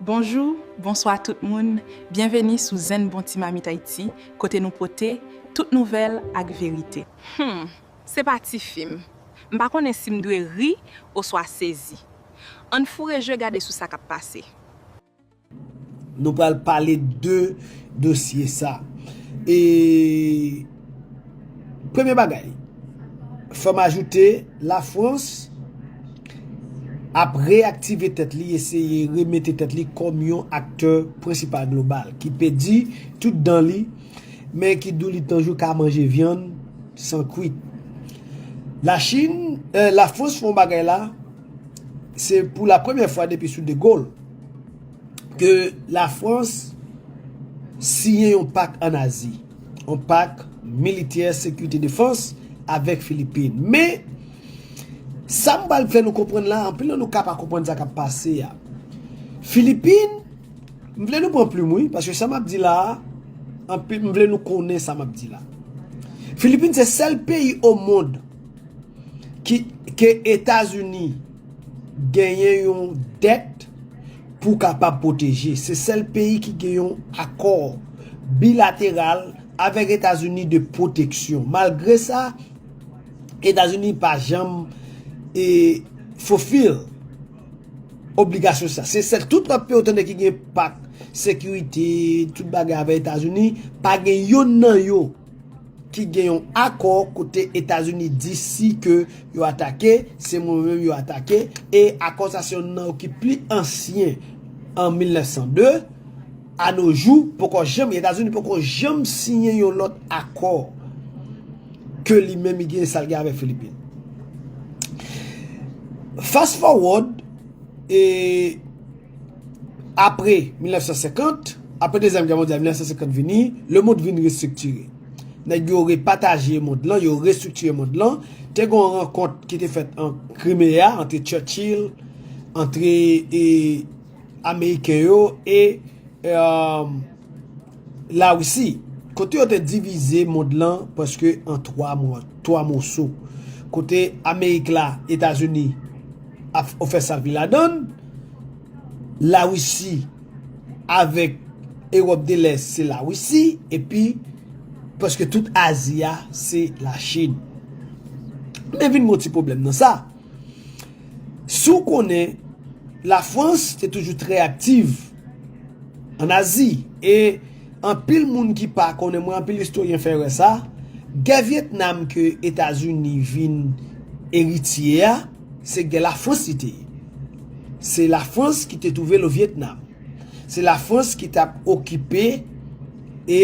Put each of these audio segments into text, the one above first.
Bonjou, bonswa tout moun, byenveni sou Zen Bon Ti Mamit Ayiti kote nou pote tout nouvèl ak verite. Humm se pa ti fim. M pa konnen si m dwe ri oswa sezi. Ann foure je gade sou sa k ap pase. Nou pral pale de dosye sa. E Premye bagay, fè m ajoute la Frans ap reyaktive tèt li, eseye remete tèt li kòm yon aktè prensipal global ki pèdi tout dan li men ki doulit tanjou ka manje vyann san kwit. La Chin, la Frans fè yon bagay la, se pou la premyè fwa depi sou De Gaulle ke la Frans siyen yon pak an Azi. yon pak militè sekirite defans avèk Filipin. Men, sa m pral fè nou konprann la, anpil nan nou ka pa konprann sa k ap pase a. Filipin, m vle nou pran plim wi, paske sa m ap di la, anpil m vle nou konnen sa m ap di la. Filipin se sèl peyi o mond ki ke Etazini genyen yon dèt. Pou kapab pwoteje, se sèl peyi ki gen yon akò bilateral avèk Etazini de pwoteksyon. Malgre sa, Etazini pa janm fulfill obligasyon sa. Se sèl tout lòt peyi ou tande ki gen pak sekirite, tout bagay avèk Etazini, pa gen yonn nan yo. ki gen yon akò kote Etazini di si ke yo atake, se mwen menm yo atake, e akò sa se yon nan yo ki pli ansyen an 1902, a no jou poko janm, Etazini poko janm siyen yon lòt akò ke li menm li gen sa l gen avèk Filipin. Fast forward, e. Apre 1950, apre dezyèm gè mondyal 1950 vini, lemond vin restriktire. Nèg yo repataje mond lan, yo restriktire mond lan. Te gon rankont ki te fèt an Krimea antre Churchill, antre Ameriken yo e. Larisi, kote yo te divize mond lan prèske an 3 mwa, 3 moso, kote Amerik la, Etazini ap fè sa l vle ladan l, Larisi avèk Ewòp de Lès se Larisi epi prèske tout Azi a se Lachin. Men vin gon ti pwoblèm nan sa. Si w konnen Lafrans te toujou trè aktiv. An Azi, e anpil moun ki pa konnen, mwen anpil istoryen fè erè sa, gè Vyetnam ke Etazini vin eritye a, se gè Lafrans li te ye. Se Lafrans ki te twouve l o Vyetnam. Se Lafrans ki t ap okipe e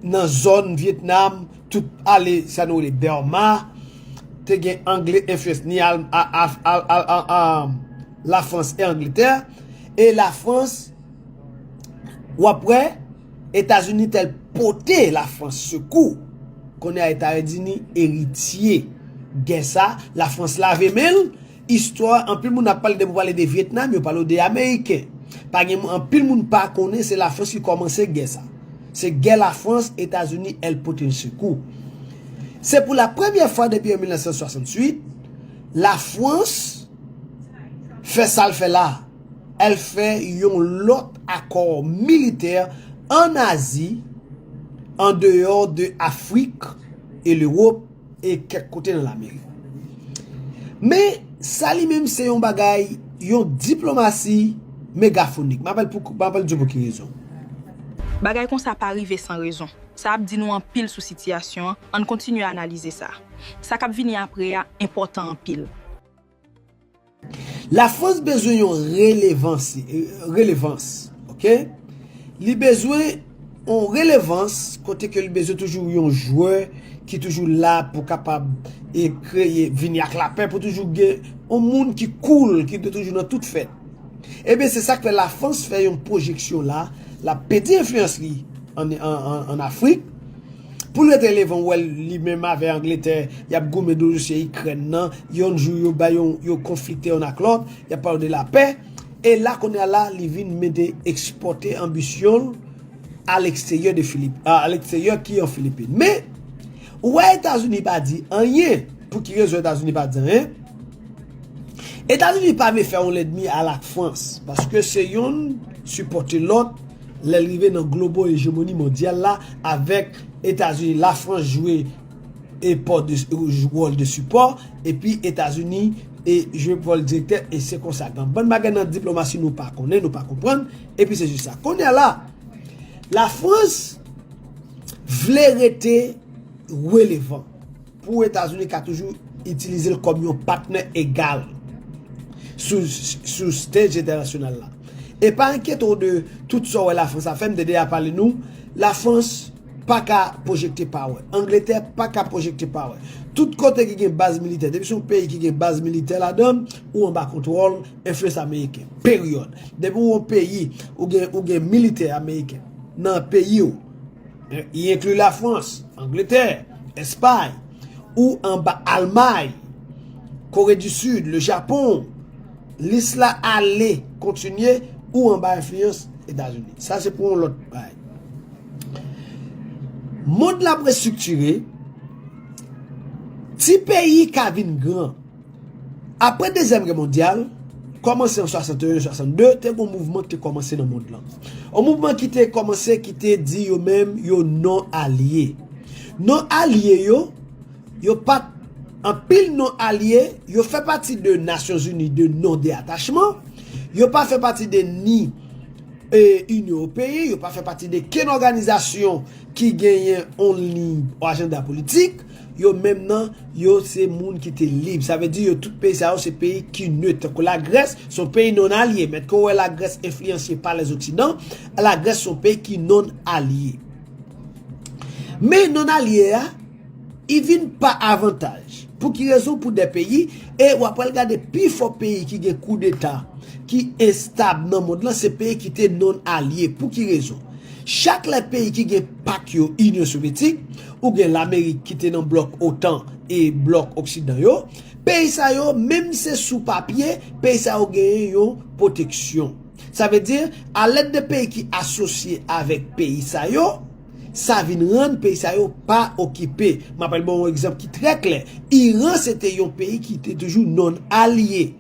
nan zòn Vyetnam, tout ale sa nou rele Bèma, te gen Angle enfliyans ni La France et Angleterre et la France wap wè Etazini tel pote la France sekou kounye a Etazini eritye gè sa la France lave menl istwa anpil moun ap pale depi ou pale de Vietnam yo pale ou de Ameriken pa gen anpil moun pa konnen se la France ki kòmanse gè sa se gè la France Etazini el pote l sekou se pou la premye fwa depi an 1968 la France. fè sa l fè la a. El fè yon lòt akò militè an Azi, an deyò de Afrik e Lewop e kèk kote nan Lamerik. Men, sa li menm se yon bagay, yon diplomasi megafonik. M ap di w pou ki rezon. Bagay konsa pa rive san rezon. Sa ap di nou anpil sou sitiyasyon an, ann kontinye analize sa. Sa k ap vini apre a enpòtan anpil. Lafrans bezwen yon relevans. Li bezwen yon relevans kote ke li bezwen toujou yon jwè ki toujou la pou kapab e kreye, vini ak lapè pou toujou gen yon moun ki koul, ki toujou nan tout fèt. Ebyen se sak fè lafrans fè yon pwojeksyon la lap pèdi enfliyans li an afrik poul rete levan ou wè li menm avè angletè yap goumen dosye ikrèn nan yon jou yo bay yo konflikte yon ak lòt yap pale de lapè e la kounya la li vin mete ekspòte anbisyonl aleksteryè de filip aleksteryè ki an filipin men ou wè etazini pa di anyen pouki rezon etazini pa di anyen. Etazini pa vle fè yon lèdmi a la Frans paske se yonn sipòte lòt lèl rive nan globo ejemoni mondyal la avèk Etazini la Frans jwe wòl de sipò epi Etazini jwe wòl direktè e se konsa gen bann bagay nan diplomasi nou pa konnen nou pa konprann epi se jis sa kounye a la la Frans vle rete relevan. Pou Etazini ka toujou itilize l kòm yon patnè egal sou stage entènasyonal la. E pa enkyete w de tout sa w wè Lafrans ap fè, m te deja pale nou, Lafrans pa ka pwojekte power, Angletè pa ka pwojekte power. Tout kote ki gen baz militè, depi se yon peyi ki gen baz militè ladan l, ou anba kontwòl, enfliyans ameriken. Peryòd. Depi w yon peyi, ou gen militè ameriken nan peyi w. Y enkli Lafrans, Angletè, Espay, ou anba Almay, Kore di Sid, Le Japon, lis la ale kontinye, ou anba enfliyans Etazini. Sa se pou yon lòt bay. Mond la ap restriktire, ti peyi ka vin gran. Apre Dezyèm Gè Mondyal, kòmanse an 61-62, te gen yon mouvman ki te kòmanse nan mond lan. Yon mouvman ki te kòmanse ki te di yo menm yo non alye. Non alye yo, yo pa t, anpil non alye, yo fè pati de Nasyonzini de non de atachman, yo pa fè pati de ni Inyon Ewopeyen, yo pa fè pati de kenn òganizasyon ki genyen yon liy ou ajanda politik. Yo menm nan, yo se moun ki te lib. Sa vle di yo tout peyi sa yo se peyi ki neut. Tankou Lagrès, se yon peyi non alye. Men ke w wè Lagrès enfliyanse pa lèzoksidan, Lagrès se yon peyi ki non alye. Men non alye a, i vin pa avantaj. Pou ki rezon? Pou de peyi, e w apral gade pi fò peyi ki gen kou deta, ki estab nan mond lan, se peyi ki te non alye. Pou ki rezon? Chak lè peyi ki gen pak yo, Inyon Sovyetik, ou gen lamerik ki te nan blòk otan e blòk oksidan yo, peyi sa yo menm se sou papye peyi sa yo genyen yon pwoteksyon. Sa vle di a lèd de peyi ki asosye avèk peyi sa yo, sa vin rann peyi sa yo pa okipe. M apèl ban ou egzanp ki trè klè, Iran se te yon peyi ki te toujou non alye.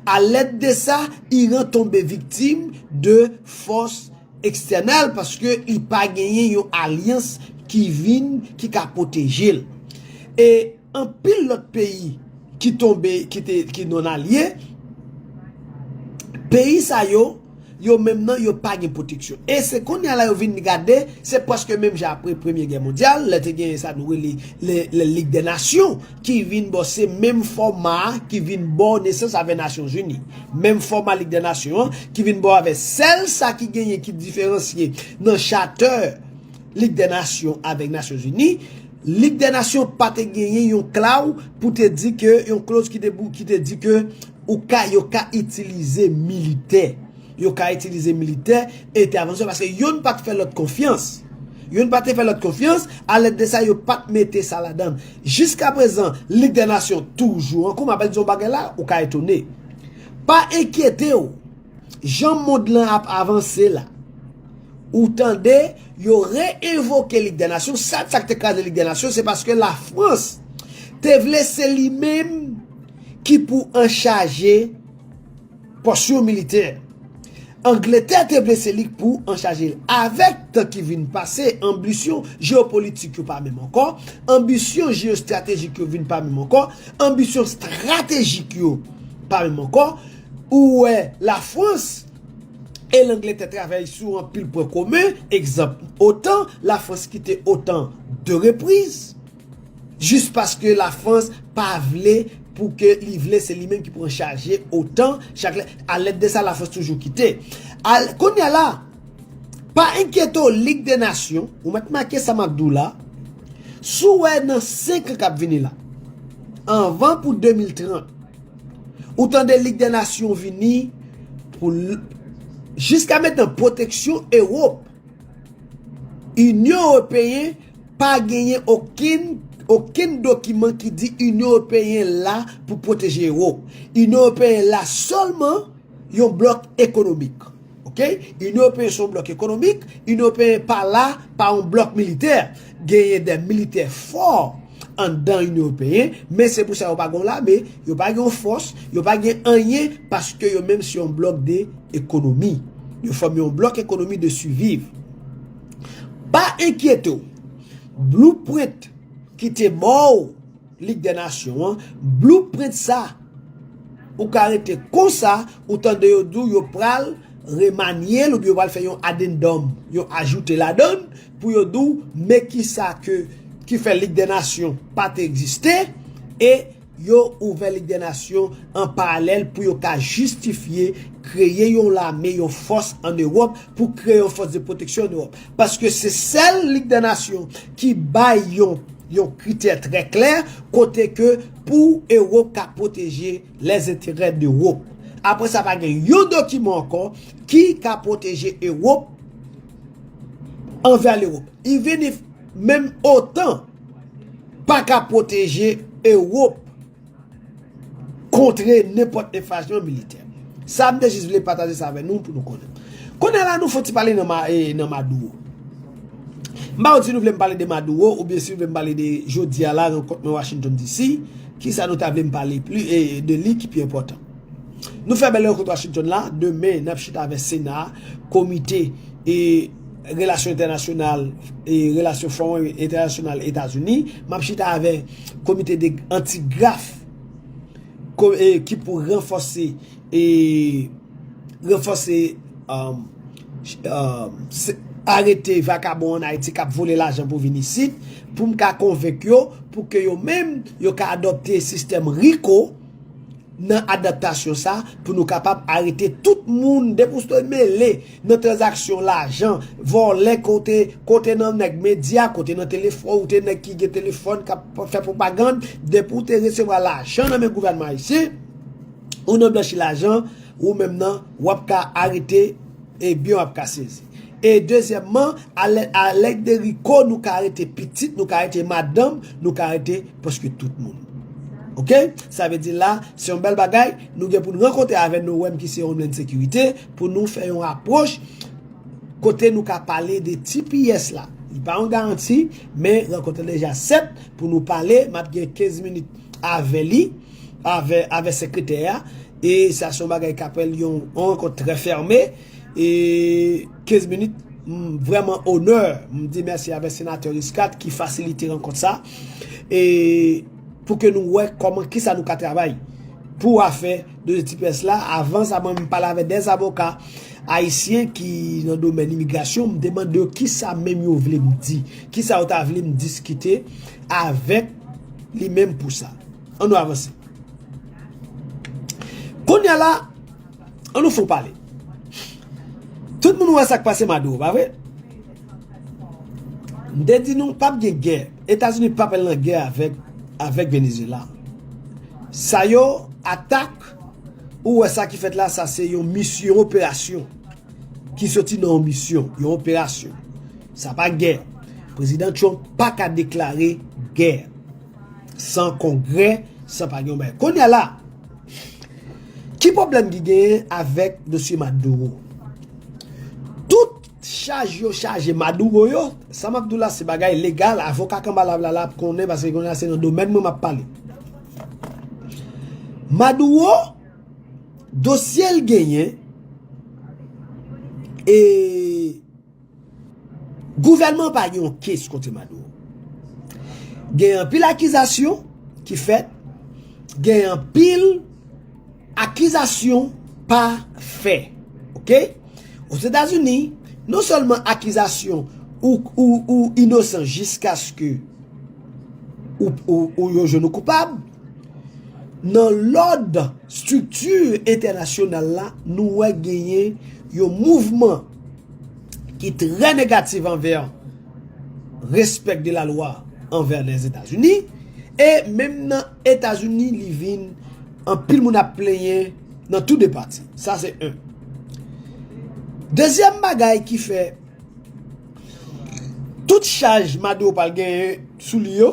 A lèd de sa, Iran tonbe viktim de fòs Ekstènèl paske li pa genyen yon alyans ki vin ki ka pwoteje l. E anpil lòt peyi ki tonbe ki te ki non alye peyi sa yo yo menm nan yo pa gen pwoteksyon. E se kounye a la yo vin gade se prèske menm jan apre premye gè mondyal lè te genyen sa nou rele le lig dè nasyon. ki vin bò se menm fòma a ki vin bò nesans avè Nasyonzini, menm fòma Lig dè Nasyon an ki vin bò avè sèl sa ki genyen ki diferansye nan chatè Lig dè Nasyon avèk Nasyonzini, Lig dè Nasyon pa te genyen yon klaw pou te di ke yon kloz ki te pou ki te di ke ou ka yo ka itilize militè yo ka itilize militè entèvansyon paske yonn pa t fè lòt konfyans yonn pa te fè lòt konfyans alèd de sa yo pa t mete sa ladann. Jiska prezan, Lig dè Nasyon toujou an kou. M apèn di w yon bagay la, ou ka etone. Pa enkyete w, jan mond lan ap avanse la, ou tande yo re-envoke Lig dè Nasyon. Sa k te kraze Lig dè Nasyon, se paske Lafrans te vle se li menm ki pou anchaje. Pòs yon militè. Angletè te vle se li k pou anchaje l. Avèk tan ki vin pase, anbisyon jeyopolitik yo pa menm ankò, anbisyon jeyostratejik yo vin pa menm ankò, anbisyon stratejik yo pa menm ankò, ou wè Lafrans e Langletè travay sou anpil pwen komen, egzanp otan, Lafrans kite otan 2 repriz. Jis paske la France pa vle pou ke li vle se li menm ki pran chaje otan chak lè a lèt de sa la France toujou kite al kounya la pa enkyete w lig de nasyon ou mèt make sa map di w la si w wè nan 5 an kap vini la anvan pou 2030 ou tande lig de nasyon vini pou l jiska metan pwoteksyon Europe. Inyon Ewopeyen pa genyen okenn okenn dokiman ki di Inyon Ewopeyen la pou pwoteje Ewop. Inyon Ewopeyen la sèlman yon blòk ekonomik. Ok? Inyon Ewopeyen se yon blòk ekonomik, Inyon Ewopeyen pa la pa yon blòk militè. Genyen de militè fò anndan Inyon Ewopeyen, men se pou sa yo pa gen yon lame, yo pa gen yon fòs, yo pa gen anyen paske yo menm se yon blòk de ekonomi. Yo fòme yon blòk ekonomi de siviv. Pa enkyete w, blueprint ki te mòw Lig dè Nasyon an, blueprint sa ou ka rete konsa ou tande yo di w yo pral remanye l oubyen yo pral fè yon addendum, yon ajoute ladan l, Pou yo di w men kisa ke ki fè Lig dè Nasyon pa te egziste e yo ouvè Lig dè Nasyon an paralèl pou yo ka jistifye kreye yon lame, yon fòs an Ewòp, pou kreye yon fòs de pwoteksyon an Ewòp. Paske se sèl Lig dè Nasyon ki bay yon yon kritè trè klè kote ke pou Ewòp ka pwoteje lèzenterè dEwòp. Apre sa pa gen yon dokiman ankò ki ka pwoteje Ewòp anvè Lewop, even if menm otan pa ka pwoteje Ewop kontre nenpòt enfrasyon militè. Sa m te jis vle pataje sa avè nou pou nou konnen. Kounye la nou fon ti pale nan Maduro. M pa konn si nou vle m pale de Maduro oubyen si nou vle m pale de jodi a la rankont nan Washington DC, kisa nou ta vle m pale de li ki pi enpòtan. Nou fè bèl rankont Washington la, demen nap chita avè Sena, komite e relasyon entènasyonal e relasyon fon entènasyonal Etazini, map chita avè komite de antigraf ki pou ranfòse e ranfòse arete vakabon an Ayiti kap vole lajan pou vin isit, poum ka konvenk yo pou ke yo menm yo ka adopte sistèm RICO. nan adaptasyon sa pou nou kapab arete tout moun depi ou te mele nan tranzaksyon lajan vòlè ke w te kote nan nèg medya kote nan telefòn ou te nèg ki gen telefòn kap fè pwopagann depi ou te resevwa lajan nan men gouvènman ayisyen ou nan blanchi lajan ou menm nan wap ka arete e byen w ap ka sezi e dezyèmman a lèd de riko nou ka arete pitit nou ka arete madanm nou ka arete. Paske tout moun. Ok? Sa vle di la, se yon bèl bagay, nou gen pou nou rankontre avè Noem ki se Homeland Security, pou nou fè yon apwoch, kote nou ka pale de tps la. Li pa yon garanti, men rankontre deja sèt, pou nou pale, map gen 15 minit avè li, avè sekretè a, e sa son bagay kapèl yon rankont trè fèrme, e... 15 minit, m vrèman onè, m di mèsi avè Senatè Riscard ki fasilite rankont sa, e pou ke nou wè kòman kisa nou ka travay pou afè de tipès la, avan sa mwen menm pale avè 2 zavoka ayisyen ki nan domèn imigrasyon, m te mande yo kisa menm yo vle m di, kisa yo ta vle m diskite avèk li menm pou sa. An nou avanse. Kounya la. An nou fon pale. Tout moun wè sak pase Maduro pa vre? M te di nou pap gen gè. Etazini pap al nan gè avèk avèk Venezuela. Sa yo atak ou wè sa ki fèt la sa se yon mis yon operasyon ki soti nan yon misyon, yon operasyon. Sa pa gè. Prezidan Trump paka deklare gè. San kongrè, san pa gen yon bagay. Kounye a la, ki pwoblèm ki genyen avèk dosye Maduro? Tout chaj yo chaje Maduro yo, sa m ap di w la se bagay legal, avoka Kanbalablala ap konnen paske kounye a se nan domèn mwen m ap pale. Maduro, dosye l genyen e. Gouvènman pa gen yon kes kote Maduro. Gen anpil akizasyon ki fèt, gen anpil akizasyon pa fè. Ok? Ozetazini, non sèlman akizasyon ou inosan jiskaske ou yo jwenn ou koupab, Nan lòd estrikti entènasyonal la, nou wè genyen yon mouvman ki trè negatif anvè respè de la lwa anvè Lèzetazini. E menm nan Etazini li vin anpil moun ap plenyen nan tou de pati. Sa se 1. Dezyèm bagay ki fè tout chaj Maduro pral genyen sou li yo.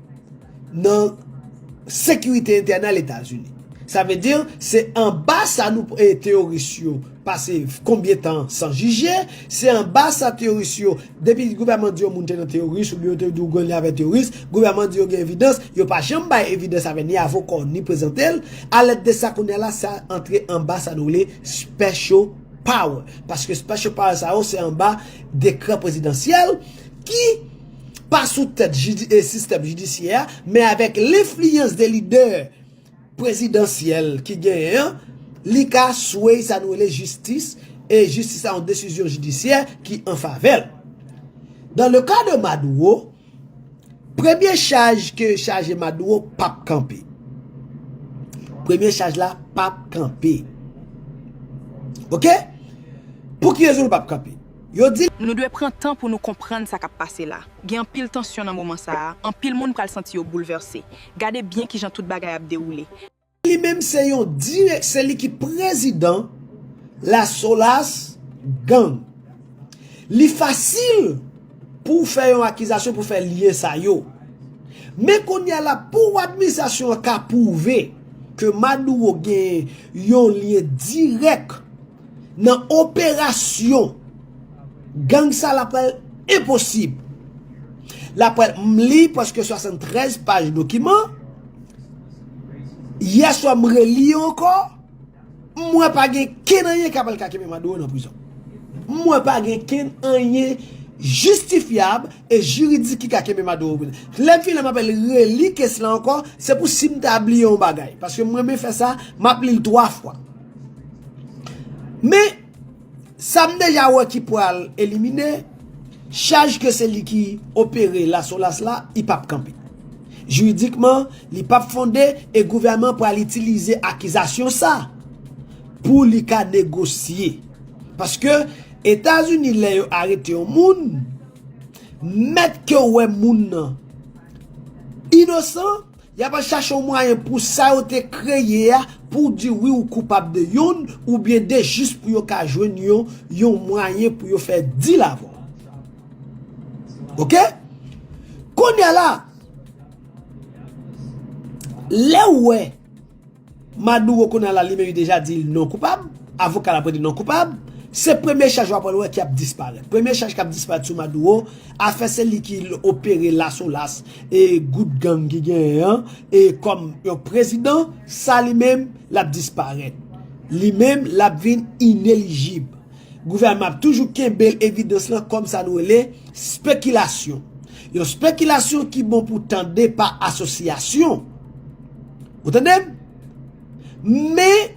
nan sekirite entènal Etazini. Sa vle di, se anba sa nou teyoris yo pase konbyen tan san jije, se anba sa teyoris yo, depi gouvèman di yon moun te nan teyoris oubyen yo te di w gen lyen avè teyoris, gouvèman di yo gen evidans, yo pa janm bay evidans avè ni avoka w ni prezante l, alèd de sa kounye a la sa antre anba sa nou rele special power. Paske special power sa yo se anba dekrè prezidansyèl ki. pa sou tèt sistèm jidisyè a, men avèk lenfliyans de lidè prezidansyèl ki genyen an, li ka sway sa nou rele jistis, e jistis la yon desizyon jidisyè ki an favè l. Dans le cas de Maduro, premye chaj ke yo chaje Maduro pap kanpe. Premye chaj la pap kanpe. Ok? Pou ki rezon li pap kanpe? Yo di l. Nou dwe pran tan pou nou konprann sa k ap pase la. Gen anpil tansyon nan moman sa a, anpil moun pral santi yo boulvèse. Gade byen ki jan tout bagay ap dewoule. Li menm se yon direk se li ki prezidan La Solas Gang. Li fasil pou w fè yon akizasyon pou fè lyen sa yo. Men kounye a la pou administrasyon an ka pwouve ke Maduro gen yon lyen dirèk. Nan operasyon gang sa la pral enposib. La pral m li preske 73 paj dokiman. Yè swa m reli yo ankò. M wè pa gen ken anyen ka pral ka kenbe Maduro nan prizon. M wè pa gen ken anyen jistifyab e jiridik ki ka kenbe Maduro nan prizon. Lè m fini la m apèl reli kes la ankò. Se pou si m ta bliye yon bagay. Paske m renmen fè sa, m ap li l 3 fwa. Men, sa m deja wè ki pral elimine, chaj ke se li ki opere la solas la, li p ap kanpe. Jiridikman, li p ap fonde e gouvèman an pral itilize akizasyon sa pou li ka negosye. Paske, Etazini lè yo arete yon moun, mèt ke wè moun nan inosan, Yap al chache yon mwayen pou sa yo te kreye a pou di wi ou koupab de youn ou byen de jis pou yo ka jwenn yon yon mwayen pou yo fè dil avè w. Ok? Kounye a la, lè ou wè. Maduro kounye a la li menm li deja di non koupab, avoka l ap rete non koupab, se premye chaj w ap pral wè ki ap disparèt. Premye chaj k ap disparèt sou Maduro, afè se li ki opere Las Olas e gwoup gang ki genyen an e kòm yon prezidan, sa li menm l ap disparèt. Li menm l ap vin inelijib. Gouvènman an ap toujou kenbe evidans lan kòm sa nou rele spekilasyon. Yon spekilasyon ki bon pou tande pa asosyasyon. Ou tande m? Men,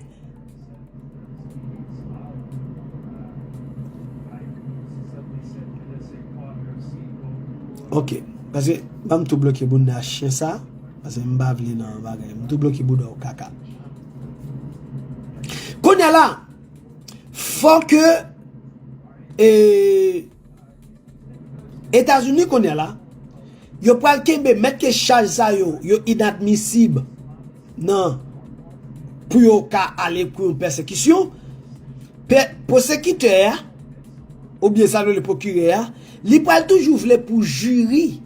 ok, pase, banm tou bloke bounda chien sa, pase m pa vle nan bagay, m tou bloke bouda w kaka. Kounye la, fò ke, eee. Etazini kounye la, yo pral kenbe mèt ke chaj sa yo, yo inadmisib nan pou yo ka ale pou yon pèsekisyon, pwosekitè a, oubyen sa nou rele pwokirè a, li pral toujou vle pou jiri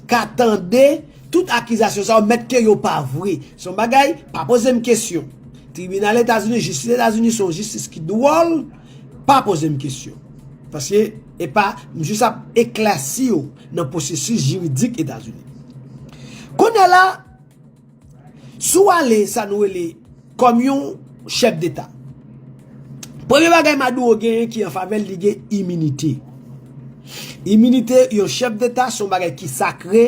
ka tande tout akizasyon sa yo mèt ke yo pa vre. Se yon bagay, pa poze m kesyon. Tribinal Etazini, jistis Etazini se yon jistis ki dwòl, Pa poze m kesyon. Paske e pa, m jis ap eklèsi ou nan pwosesis jiridik Etazini. Kounye la, si w ale sa nou rele kòm yon chèf deta, premye bagay Maduro genyen ki an favè l, li gen iminite. Iminite yon chèf deta se yon bagay ki sakre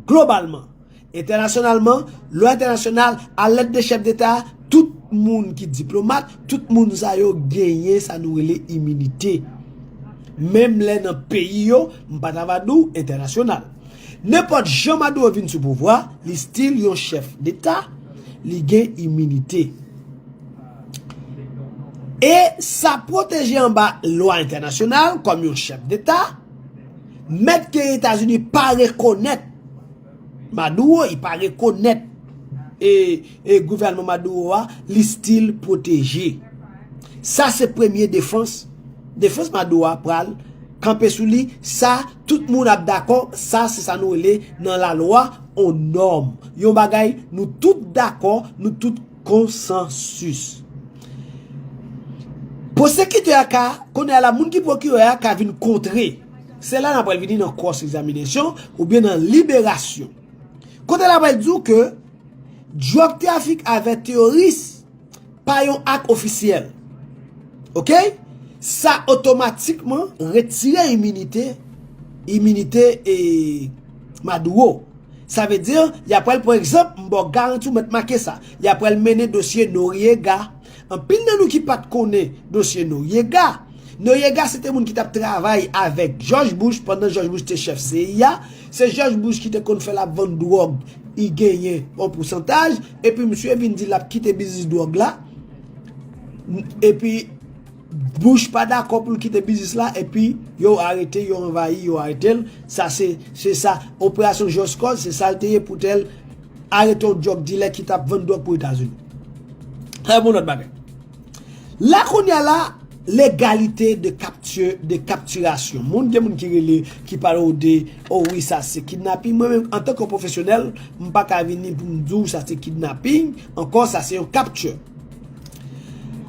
globalman. Entènasyonalman, lwa entènasyonal, a lèt de chèf deta, tout moun ki diplomat, tout moun sa yo genyen sa nou rele iminite. Menm lè nan peyi yo, m pa ta va di w entènasyonal. Nenpòt jan Maduro vin sou pouvwa, li stil yon chèf deta, li gen iminite. E sa pwoteje anba lwa entènasyonal kòm yon chèf deta, mèt ke Etazini pa rekonèt. Maduro i pa rekonèt e gouvènman Maduro a li stil pwoteje. Sa se premye defans, defans Maduro a pral kanpe sou li, sa tout moun ap dakò, sa se sa nou rele nan la lwa on nòm. Yon bagay nou tout dakò, nou tout konsansis. Pwosekitè a ka, kounye a la moun ki pwokirè a ka vin kontre. Se la nan pral vini nan cross examination ou byen nan liberasyon. Kote la pral di w ke drug traffic avè teoris pa yon ak ofisyèl. Ok? Sa otomatikman retire iminite, iminite e Maduro. Sa vle di, ya pral pran egzanp, m ba w garanti w mèt make sa. Ya pral mennen dosye Noriega. Anpil nan nou ki pat konnen dosye Noriega, Noriega se te moun ki tap travay avèk Jòj Bush pandan Jòj Bush te chèf CIA, se Jòj Bush ki te konn fè lap vann dwòg i genyen yon pousantaj epi misye vin di lap kite biznis dwòg la epi Bush pa dakò pou l kite biznis la epi yo arete yo anvayi yo arete l sa se se sa operasyon just cause se sa l te ye pou te arete yon drug dilè ki tap vann drug pou etazini sa se pou yon lòt bagay la kounya la legalite de kapti de kaptirasyon moun gen moun ki rele ki pale w de o wi sa se kidnaping mwen menm antanke yon pwofesyonèl m paka vini pou m di w sa se kidnaping ankò sa se yon kapti.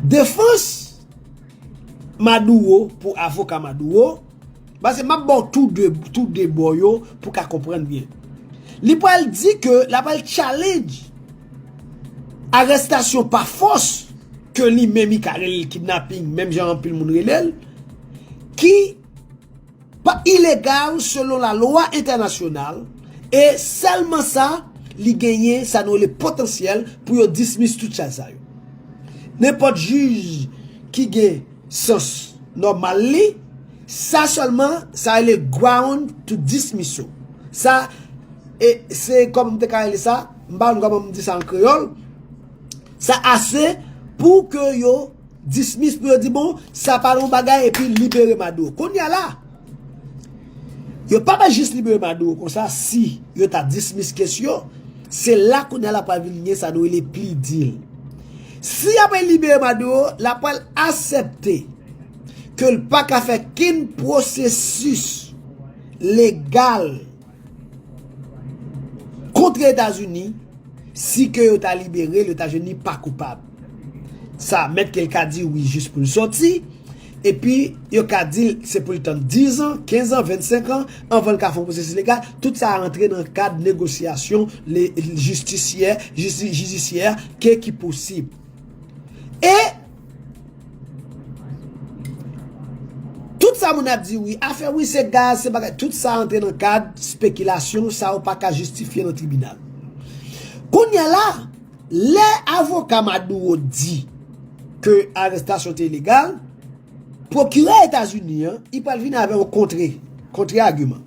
Defans Maduro pou avoka Maduro, pase map baw tou 2 tou 2 bò yo pou ka konprann byen. Li pral di ke la pral challenge arestasyon pa fòs ke li menm li ka rele kidnapping menm jan anpil moun relel ki Pa ilegal selon la lwa entènasyonal e sèlman sa li genyen sa nou rele potansyèl pou yo dismiss tout chaj sa yo. Nenpòt jij ki gen sans nòmal li, sa sèlman sa rele ground to dismissal. Sa e se kòman m te ka rele sa, m pa konn kòman m di sa an kreyòl, sa ase pou ke yo. Dismiss pou yo di bon sa pa yon bagay epi libere Maduro. Kounya la, yo pa bay jis libere Maduro konsa si yo ta dismiss kes yo, se la kounya la pral vin gen sa nou rele plea deal. Si ya pe libere Maduro, la pral asepte ke l pa ka fè kenn pwosesis legal Kontre Etazini, si ke yo ta libere l, yo ta jwenn li pa koupab. Sa mèt ke l ka di wi jis pou l sòti, epi yo ka di l se pou l tann 10 an, 15 an, 25 an, anvan l ka fè yon pwosesis legal, tout sa rantre nan kad negosyasyon jistisyè, jidisyè, ke ki posib. E. Tout sa moun ap di wi, afè wi se gaz, se bagay, tout sa antre nan kad spekilasyon, sa ou pa ka jistifye nan tribinal. Kounya la, lè avoka Maduro di ke arestasyon te ilegal, pwokirè Etazini an, li pral vini avè yon kontre, kontre agiman.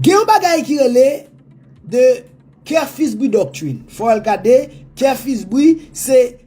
Gen yon bagay ki rele the Kerr-Fisbuy doctrine, fò al gade, Kerr-Fisbuy se.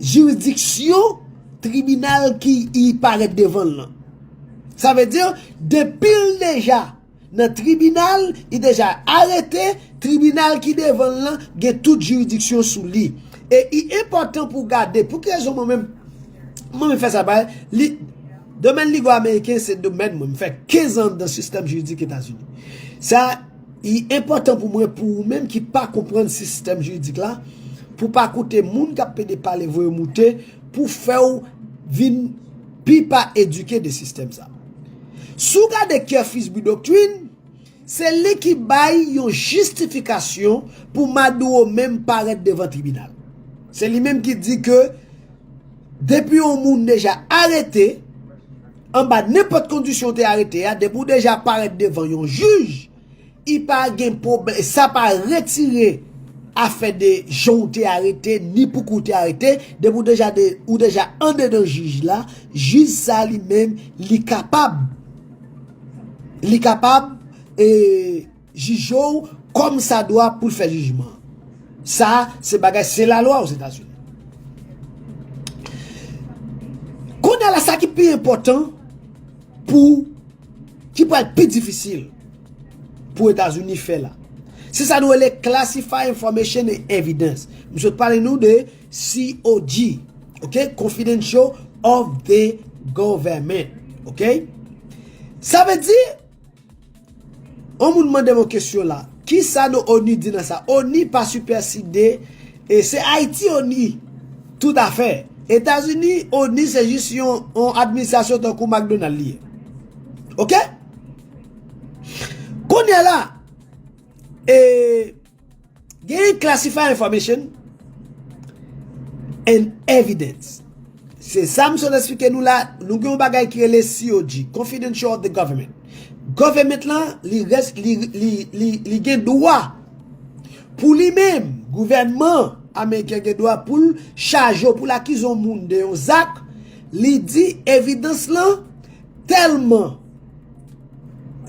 jiridiksyon tribinal ki y parèt devan l lan. Sa vle di, depi l deja nan tribinal, li deja arete, tribinal ki devan l lan gen tout jiridiksyon sou li. E i enpòtan pou w gade, pou ki rezon mwen menm, mwen menm fè sa bay, li, domèn ligo ameriken se domèn mwen, m fè 15 an anndan sistèm jiridik Etazini. Sa. Li enpòtan pou mwen pou ou menm ki pa konprann sistèm jiridik la, pou pa koute moun kap pede pale voye moute pou fè w vin pi pa edike de sistèm sa. Si w gade Kerfis Bidoctrin, se li ki bay yon jistifikasyon pou Maduro menm parèt devan tribinal. Se li menm ki di ke depi yon moun deja arete, Anba nenpòt kondisyon ou te arete a, depi ou deja parèt devan yon jij, i pa gen pwoblè, sa pa retire afè de jan ou te arete, ni pouki ou te arete, depi ou deja de, ou deja andedan jij la, jij sa li menm, li kapab, li kapab, e. Jije w kòm sa dwa pou l fè jijman an. Sa a se bagay se lalwa Ozetazini. Kounye a la sa ki pi enpòtan pou ki pral pi difisil pou Etazini fè la. Se sa nou rele classified information and evidence. M sot pale nou de COG, ok, confidential of the government, ok. Sa vle di. On moun mandem on kesyon la. Kisa non onu di nan sa? Onu pa sipèside e se Ayiti onu tout a fè. Etazini onu se jis yon on administrasyon tankou McDonald li ye. Ok? Kounye la e. Genyen classified information and evidence. Se sa m sot esplike nou la, nou gen yon bagay ki rele COG, Confidential of the Government. Government lan, li gen dwa pou li menm, gouvènman Ameriken gen dwa pou l chaje ou pou l akize yon moun de yon zak, li di evidans lan tèlman.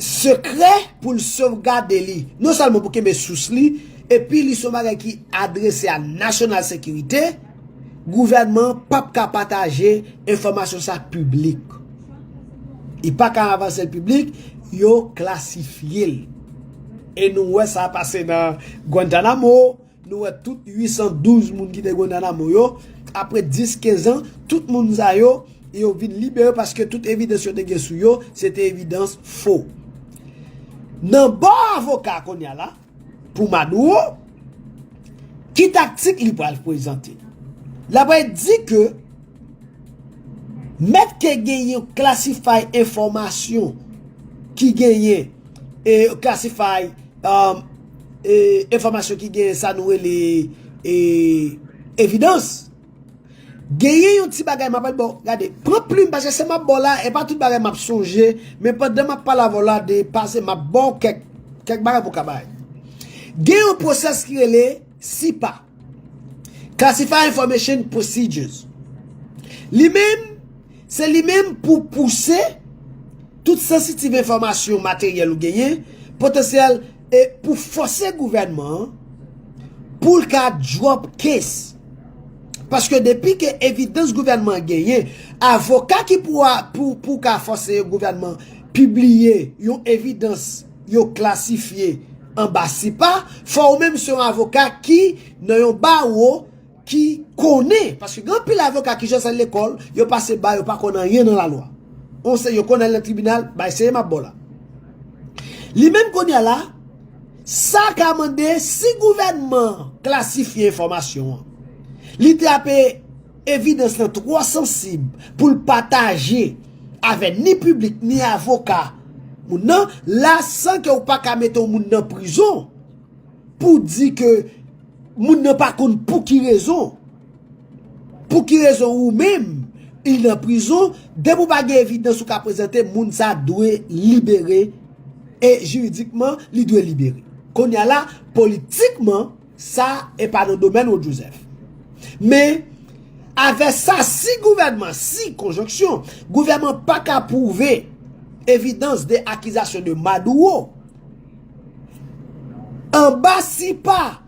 Sekrè pou l sovgade li, non sèlman pou kenbe sous li, epi li se yon bagay ki adrese a nasyonal sekirite, gouvènman an pa p ka pataje enfòmasyon sa piblik. Li pa ka avanse l piblik, yo klasifye l. E nou wè sa pase nan Guantanamo. Nou wè tout 812 moun ki te Guantanamo yo, apre 10, 15 an, tout moun sa yo, yo vin libere paske tout evidans yo te gen sou yo, se te evidans fo. Nan bò avoka kounya la, pou Maduro, ki taktik li pral prezante? La pral di ke. Mèt ke gen yon klasify enfòmasyon ki genyen e klasify e enfòmasyon ki genyen sa nou rele e evidans. Genyen yon ti bagay mapèl bò, gade, pran plim pase se map bò la e pa tout bagay map sonje, men pandan map pale avè w la de pase map bò w kèk bagay pou w ka bay. Gen yon pwosès ki rele sipa. Classified Information Procedures. Li menm, se li menm pou pouse tout sensitive enfòmasyon materyèl ou genyen, potansyèl, e pou fòse gouvènman an pou l ka drop case. Paske depi ke evidans gouvènman an genyen, avoka ki pou ka fòse gouvènman pibliye yon evidans, yo klasifye anba sipa, fò ou menm se yon avoka ki nan yon bawo ki konnen, paske gen anpil avoka ki jis al lekòl, yo pase ba yo pa konn anyen nan lalwa. On se yo konn al nan tribinal, bay seye m ap ba w la. Li menm kounye a la, sa ka mande si gouvènman an klasifye enfòmasyon an, li trape Evidans lan twò sansib pou l pataje avè ni piblik ni avoka moun nan la san ke ou pa ka mete yon moun nan prizon pou di ke moun nan pa konn pou ki rezon pou ki rezon ou menm li nan prizon depi ou pa gen evidans ou ka prezante moun sa dwe libere e jiridikman li dwe libere. Kounye a la politikman Sa e pa nan domèn ou Joseph. Men, avè sa si gouvènman, si konjonksyon, gouvèman pa ka pwouve evidans de akizasyon de Maduro, anba si pa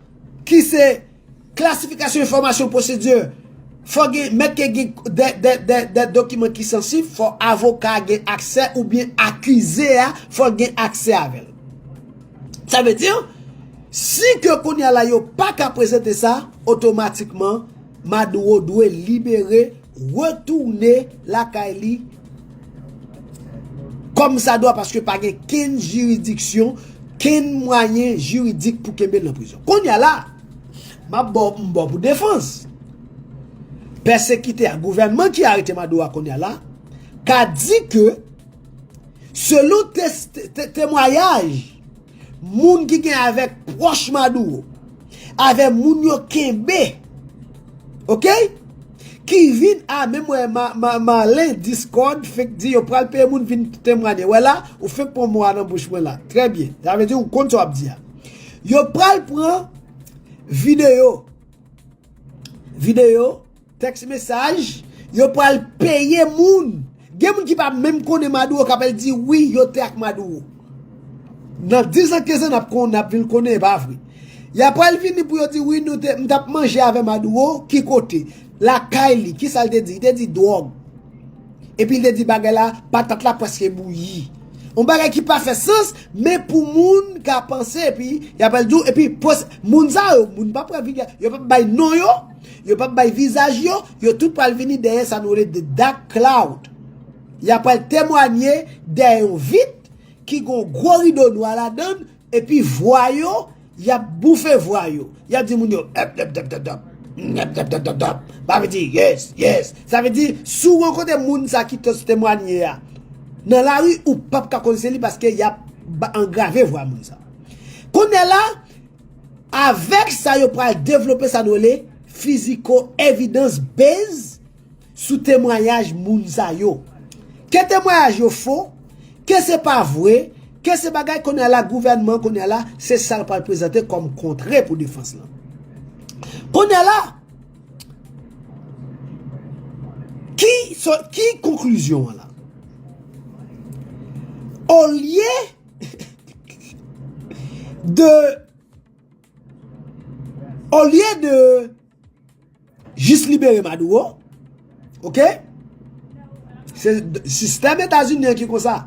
ki se klasifikasyon enfòmasyon pwosedye, fò gen mèt ke gen de dokiman ki sansif, fò avoka gen aksè oubyen akize a fò gen aksè avèl. Sa vle di, Si ke kounye a la yo pa ka prezante sa, otomatikman Maduro dwe libere, retourne lakay li kòm sa dwa paske pa gen kenn jiridiksyon, kenn mwayen jiridik pou kenbe l nan prizon. Kounye a la, m ap ba w m ba w pou defans. Pèsekitè a, gouvènman ki arete Maduro a kounye a la, ka di ke selon temwayaj, Moun ki gen avek proch maduro. Ave moun yo kenbe. Ok. Ki vin a menm we malen discord fek di yo pral peye moun vin temwanye. We la ou fek pran mo a nan bouch mwen la. Tre byen. Sa vle di ou konn sa wap di a. Yo pral pran video. Video. Text message, Yo pral peye moun. Gen moun ki pa menm konnen Maduro kap al di wi yo te ak Maduro. Nan 10 ans 15 ans nap konnen nap vin konnen e pa vre. Ya pral vini pou yo di wi nou te m tap manje avè Maduro ki kote? Lakay li kisa l te di? Li te di drog. Epi li te di bagay la patat la preske bouyi. Yon bagay ki pa fè sans men pou moun ka panse epi ya pral di w epi pwès moun sa yo moun pa pral vini yo pap bay non yo. Yo pap bay vizaj yo, yo tout pral vini dèyè sa nou rele the dark cloud. Ya pral temwanye dèyè yon vit ki gen yon gwo rido nwa ladan l epi vwa yo yap boufe vwa yo. Yap di moun yo èpdèpdèpdèpdèp, èpdèpdèpdèpdèp, sa vle di yes, yes. Sa vle di si w rankontre moun sa ki te temwanye a nan lari ou pap ka konn se li paske yap angrave vwa moun sa. Kounye la. Avèk sa yo pral devlope sa nou rele fiziko evidans base sou temwanyaj moun sa yo. Ke temwayaj yo fo, ke se pa vre, ke se bagay kounye a la gouvènman kounye a la se sa l pral prezante kòm kontre pou defans lan. Kounye a la, ki konklizyon an la? Olye de olye de jis libere maduro ok se sistèm etazini an ki konsa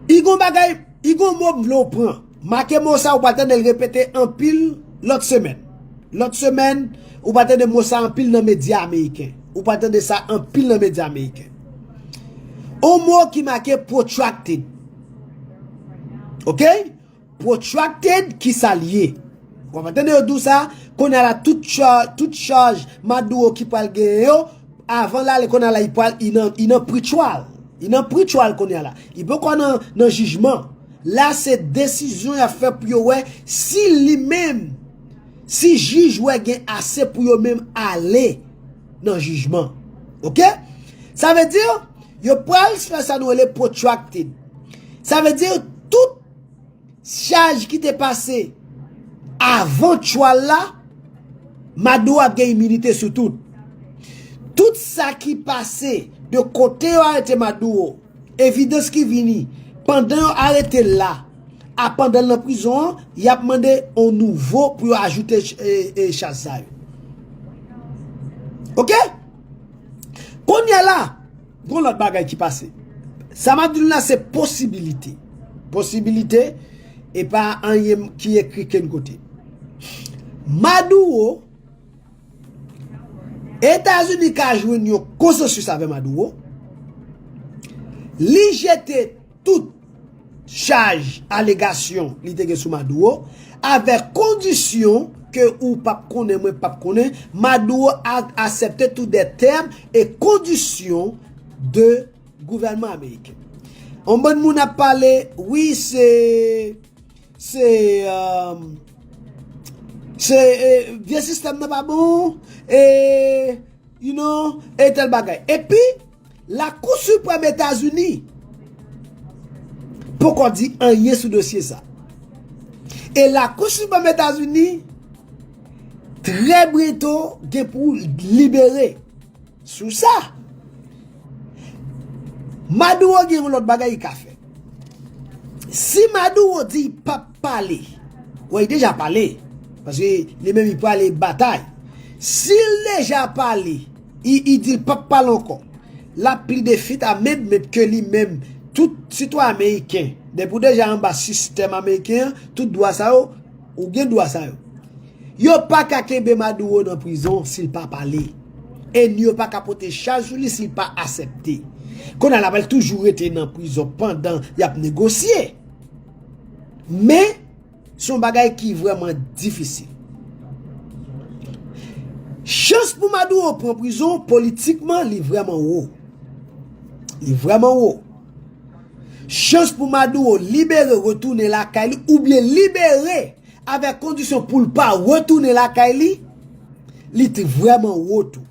i gon bagay i gon mo m vle w pran Make mo sa ou pral tande l repete anpil lòt semèn. Lòt semèn, ou pral tande mo sa anpil nan medya ameriken. Ou pral tande sa anpil nan medya ameriken. On mo ki make protracted. Ok? Protracted ki sa l ye? Ou pral tande yo di w sa, kounye a la tout chaj Maduro ki pral genyen yo, avan l ale kounye a la li nan pre-trial. Li nan pre-trial kounye a la. Li poko nan jijman. La se desizyon yap fè pou yo wè si li menm si jij wè gen ase pou yo menm ale nan jijman ok sa vle di yo pral fè sa nou rele protracted sa vle di tout chaj ki te pase avan trial la Mado ap gen iminite sou tout tout sa ki pase de kote yo arete Mado Evidans ki vini pandan yo arete l la a pandan l nan prizon an, y ap mande yon nouvo pou yo ajoute chaj sa yo. Ok! Kounyè la, gon lòt bagay ki pase. Sa m ap di nou la se posibilite. Posibilite, e pa anyen ki ekri kenn kote. Maduro. Etazini ka jwenn yon konsansis avè Maduro, li jete tout chaj, alegasyon li te gen sou Maduro, avè kondisyon ke ou pap konnen mwen pap konnen, Maduro asepte tout de tèm e kondisyon de gouvènman ameriken. Yon bann moun ap pale, wi se. Se Se Vye sistèm nan pa bon E You know E tèl bagay Epi Lakou Siprèm Etazini Poko di anyen sou dosye sa E Lakou Siprèm Etazini Trè brento Gen pou libere Sou sa. Maduro gen yon lot bagay li ka fè. Si Maduro di li pap pale. Bon li deja pale. Paske li menm li pale batay. Si li deja pale. Li di li pap pale anko. La pli de fit a med med ke li menm. Tout sitwa ameriken. Depi ou deja anba sistem ameriken. Tout dwa sa yo. Ou gen dwa sa yo. Yo pa ka kenbe Maduro nan prizon si l pa pale. E ni yo pa ka pote chaj sou li si l pa asèpte. Kounye a la pral toujou rete nan prizon pandan y ap negosye. Men, se yon bagay ki vrèman difisil. Chans pou Maduro pran prizon politikman li vrèman wo. Li vrèman wo. Chans pou Maduro libere retounen lakay li oubyen libere avèk kondisyon pou l pa retounen lakay li, li t vrèman wo tou.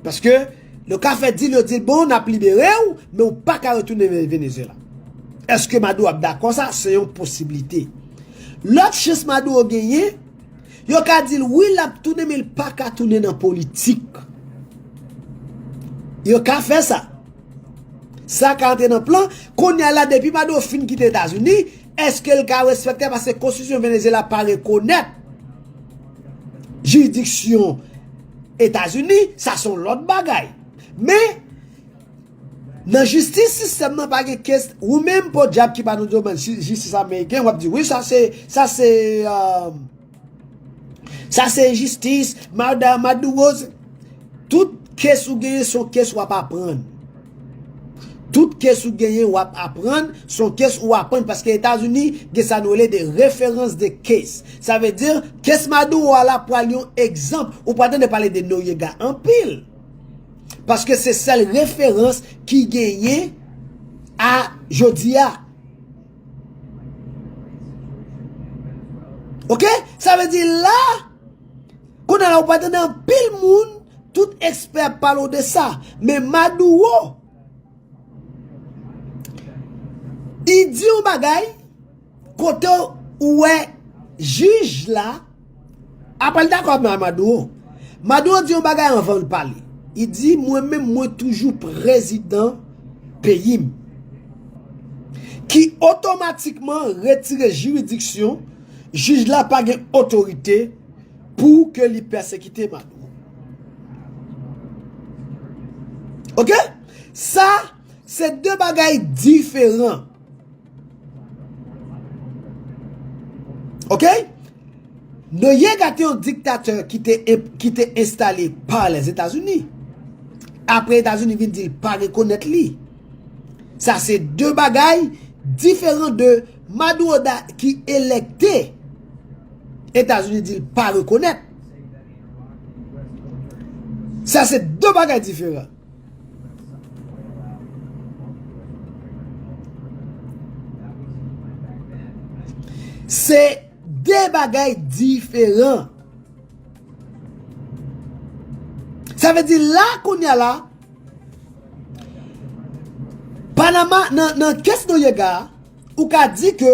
Paske yo ka fè dil yo di l bon n ap libere w men w pa ka retounen Venezyela. Eske Maduro ap dakò sa? Se yon posiblite. Lòt chans Maduro genyen, yo ka di l wi l ap tounen men l pa ka tounen nan politik. Yo ka fè sa. Sa ka antre nan plan, konnya la depi Maduro fin kite Etazini, eske l ka respekte paske konstitisyon Venezyela pa rekonèt jiridiksyon Etazini, sa se yon lòt bagay. Men, nan jistis sistèm nan pa gen kes, ou menm podyab ki pa nan domèn jistis ameriken, w ap di wi sa se, sa se. Sa se enjistis, mada Maduro se. Tout kes ou genyen son kes wap aprann. Tout kes ou genyen wap aprann, son kes ou aprann paske Etazini gen sa nou rele de referans de kes. Sa vle di, kes Maduro a la pral yon egzanp. Ou pral tande pale de Noriega anpil. Paske se sèl referans ki genyen a jodi a. Ok, sa vle di la, kou nan la ou pa tande an pil moun, tout ekspè pale ou de sa, men Maduro, di di yon bagay, kote ou we jij la, Apa l dakò avm a Maduro? Maduro di yon bagay anvan l pale. I di mwen menm mwen toujou prezidan peyi m. Ki otomatikman retire jiridiksyon jij la pa gen otorite pou ke li pèsekite Maduro. Ok? Sa. Se de bagay diferan. Ok? Noyega te yon diktatè ki te enstale pa les Etazini. Apre Etazini vin di l pa rekonèt li. Sa se de bagay diferan de Maduro da ki elekte Etazini di l pa rekonèt. Sa se de bagay diferan. Se de bagay diferan. Sa ve di la kounya la, Panama nan kes Noriega, ou ka di ke,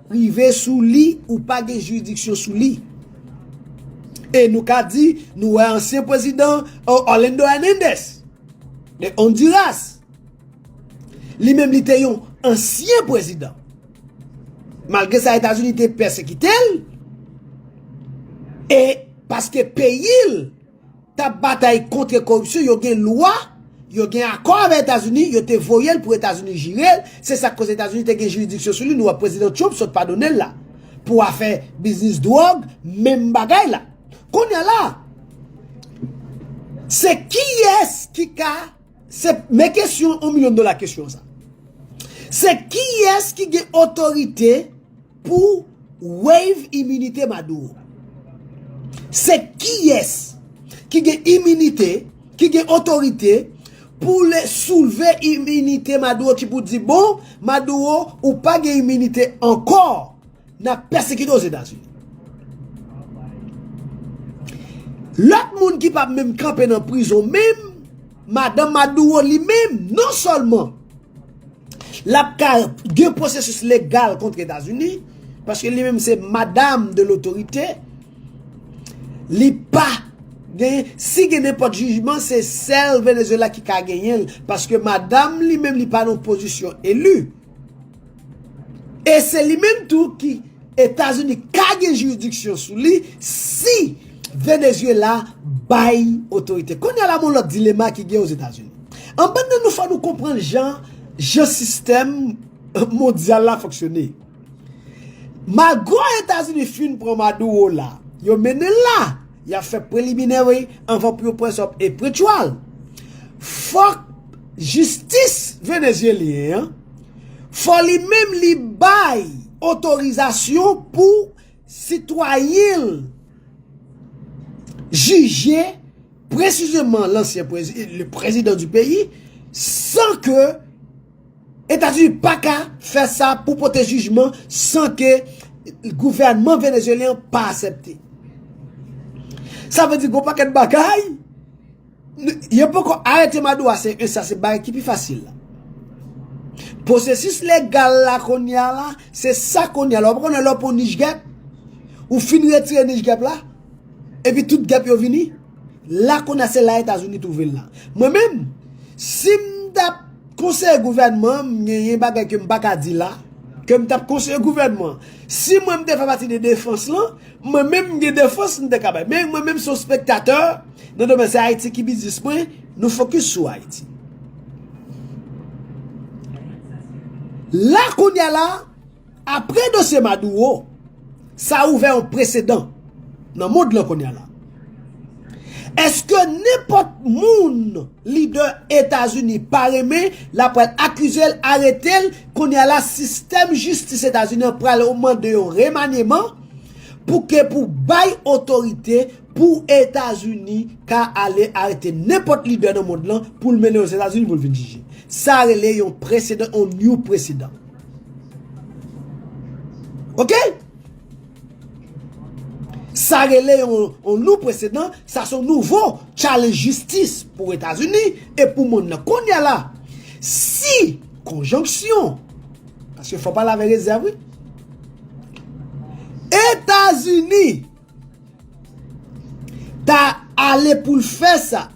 Rive sou li ou pa gen jiridiksyon sou li. E nou ka di nou wè ansyen pwezidan Orlando Hernandez de Honduras. Li menm li te yon ansyen pwezidan. Malgre sa Etazini te pèsekite l e paske peyi l. tap batay kontre koripsyon yo gen lwa yo gen akò avè etazini yo te voyel pou etazini jirel se sak koz etazini te gen jiridiksyon sou li nou wè prezidan Trump sot padonel la pou afè biznis dròg menm bagay la konnya la se kiyès ki ka se men kesyon on milyon dola kesyon sa se kiyès ki gen otorite Pou waive iminite Maduro. Se kiyès ki gen iminite, ki gen otorite pou le soulve iminite Maduro ki pou di bon Maduro ou pa gen iminite ankò nap pèsekite Ozetazini. Lòt moun ki pa menm kanpe nan prizon menm. Madan Maduro li menm non sèlman l ap ka gen pwosesis legal kont Etazini, paske li menm se madam de lotorite, li pa gen, si gen nenpòt jijman se sèl Venezuela ki ka genyen l, paske madam li menm li pa nan pozisyon eli. E se li menm tou ki Etazini ka gen jiridiksyon sou li si Venezuela bay otorite. Kounye a la gon lòt dilema ki gen Ozetazini. Anbann nan nou fò nou konprann jan jan sistèm mondyal la fonksyone. Malgre Etazini fin pran Maduro la, yo mennen l la. Yap fè preliminary anvan pou yo press up e pretrial. Fòk jistis Venezyelyen an, fò li menm li bay otorizasyon pou sitwayen l jije presizeman lansyen prezidan du peyi san ke Etazini paka fè sa pou pote jijman san ke gouvènman Venezyelyen an pa asèpte. Sa vle di gwo pakèt bagay, yo poko arete Maduro a se 1 sa se bagay ki pi fasil la. Posesis legal la konya la, se sa konya la, ou pa konnen lè ou pran nij gèp, ou fin retire nij gèp la, epi tout gèp yo vini. La konn a se la etazini twouvel la. Mwen menm sim tap konseye gouvènman m genyen bagay kem paka di la kem tap konseye gouvènman si mwen m te fè pati de defans lan mwen menm m gen defans m te ka bay men mwen menm son spektatè nan domèn se ayiti ki biznis mwen nou fokis sou ayiti. La kounya la. Apre dosye Maduro, sa ouvè yon presedan nan mond lan kounye la. Eske nenpòt moun lidè Etazini pa renmen, l a pral akize l, arete l, kounye la sistèm jistis Etazini an pral mande yon remanyeman pou ke pou bay otorite pou Etazini ka ale arete nenpòt lidè nan mond lan pou l mennen yo Etazini pou l vin jije. Sa rele yon presedan, yon new presedan. Ok? Sa rele yon nou presedan, sa son nouvo challenge jistis pou Etazini e pou moun nan konya la. Si konjonksyon, paske fò pale avè rezèv wi, Etazini. Ta ale pou l fè sa.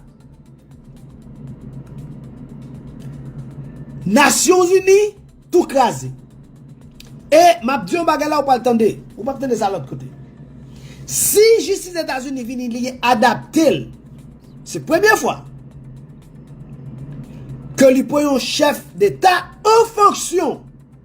Nasyon zini tou kraze. E m ap di yon bagay la ou pral tande. Ou pap tande sa lòt kote. Si jistis etazini vini li adapte l. Se premye fwa. Ke li pran yon chèf deta an fonksyon.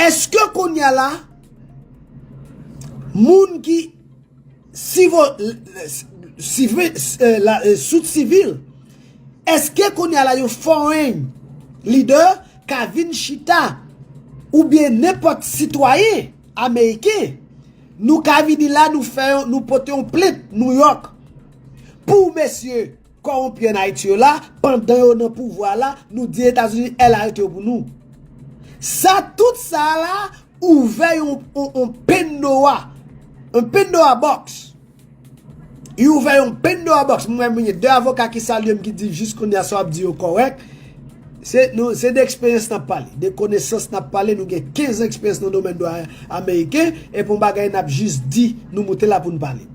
Eske kounya la moun ki sout sivil, eske kounya la yon foreign leader ka vin chita ou byen nenpòt sitwayen ameriken nou ka vini la nou pote yon plent New York pou mesye Kòronpi an Ayiti yo la, pandan yo nan pouvwa la, nou di Etazini el arete yo pou nou. Sa tout sa a la ouvè yon yon pendoa yon pendoa box li ouvè yon pendoa box m wè m gen 2 avoka ki salye m ki di jis kounye a sa w ap di yo kòrèk se nou se de eksperyans n ap pale de konesans n ap pale nou gen 15 an eksperyans nan domèn dwa ameriken e p yon bagay n ap jis di nou moute la pou n pale.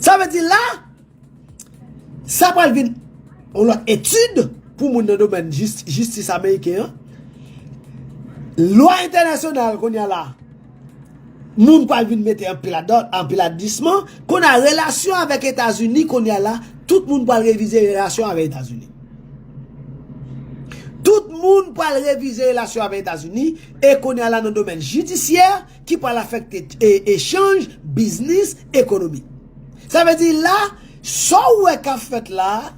Sa vle di la, sa pral vin yon lòt etid pou moun nan domèn jistis ameriken an. Lwa entènasyonal kounye a la, moun pral vin mete anpil ladan, anpil adisman. Kounye a, relasyon avèk Etazini kounye a la, tout moun pral revize relasyon avèk Etazini. Tout moun pral revize relasyon avèk Etazini e kounye a la nan domèn jidisyè. ki pral afekte echanj, biznis, ekonomi. Sa vle di la, sa w wè k ap fèt la a,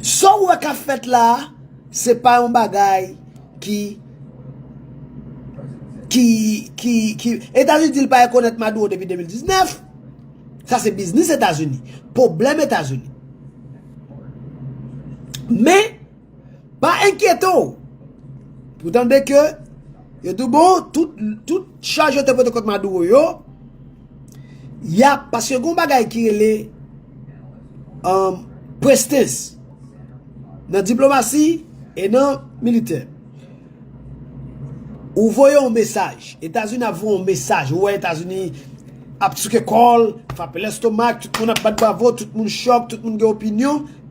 sa w wè k ap fèt la a, se pa yon bagay ki, ki, ki, ki, Etazini di l pa rekonèt Maduro depi 2019, sa se biznis Etazini, pwoblèm Etazini. Men. Pa enkyete w! Pou tande ke yo di w bon, tout chaj yo te pote kont Maduro yo, ya paske gon bagay ki rele prestes nan diplomasi e nan militè. Ou voye yon mesaj, Etazini ap voye yon mesaj, ou wè Etazini ap souke kò l, frape lestomak, tout moun ap bat bravo, tout moun chòk, tout moun gen opinyon.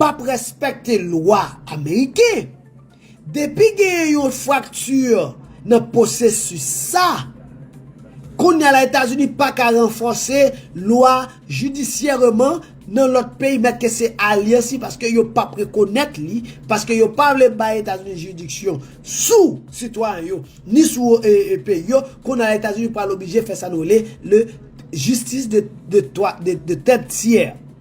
Pap respekte lwa ameriken. Depi genyen yon fracture nan posesis sa, konnya la Etazini pa ka ranfòse lwa jidisyèreman nan lòt peyi mèt ke se alyans li paske yo pap rekonèt li paske yo pa vle bay Etazini jiridiksyon sou sitwayen yo ni sou peyi yo konnya la Etazini pral oblije fè sa nou rele le justice de tèt tiè.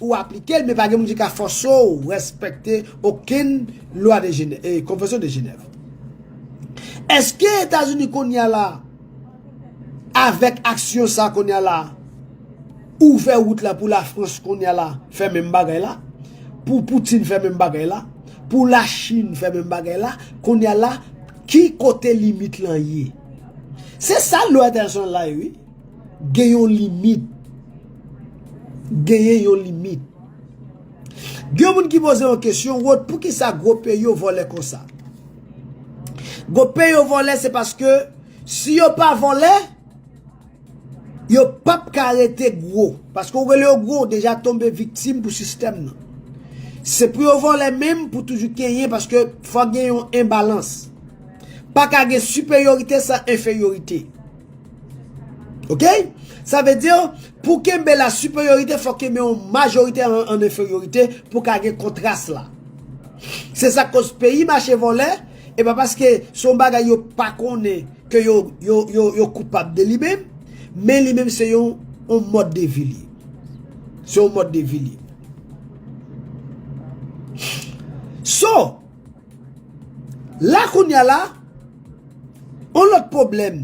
Ou aplike l men pa gen moun ki ka fòse w respekte okenn lwa Konvansyon de Jenèv. Eske Etazini kounye a la avèk aksyon sa kounye a la ouvè wout la pou Lafrans kounye a la fè menm bagay la, pou Poutine fè menm bagay la, pou Lachin fè menm bagay la kounye a la ki kote limit lan ye? Se sa lwa entènasyonal la ye wi. Gen yon limit. Genyen yon limit. Gen yon moun ki poze yon kesyon, Rod, pou ki sa gwo peyi yo vòlè konsa? Gwo peyi yo vòlè se paske si yo pa vòlè, yo p ap ka rete gwo. Paske ou rele yo gwo, ou deja tonbe viktim pou sistèm nan. Se pou yo vòlè menm pou toujou kenyen paske fòk gen yon enbalans. Pa ka gen siperyorite san enferyorite. Ok? Sa vle di yo, pou kenbe la siperyorite fòk kenbe yon majorite an enferyorite pou ka gen kontras la. Se sa kòz peyi mache vòlè, e pa paske son bagay yo pa konnen ke yo koupab de li menm, men li menm se yon mòd de vi li. Se yon mòd de vi li. So! La kounya la, yon lòt pwoblèm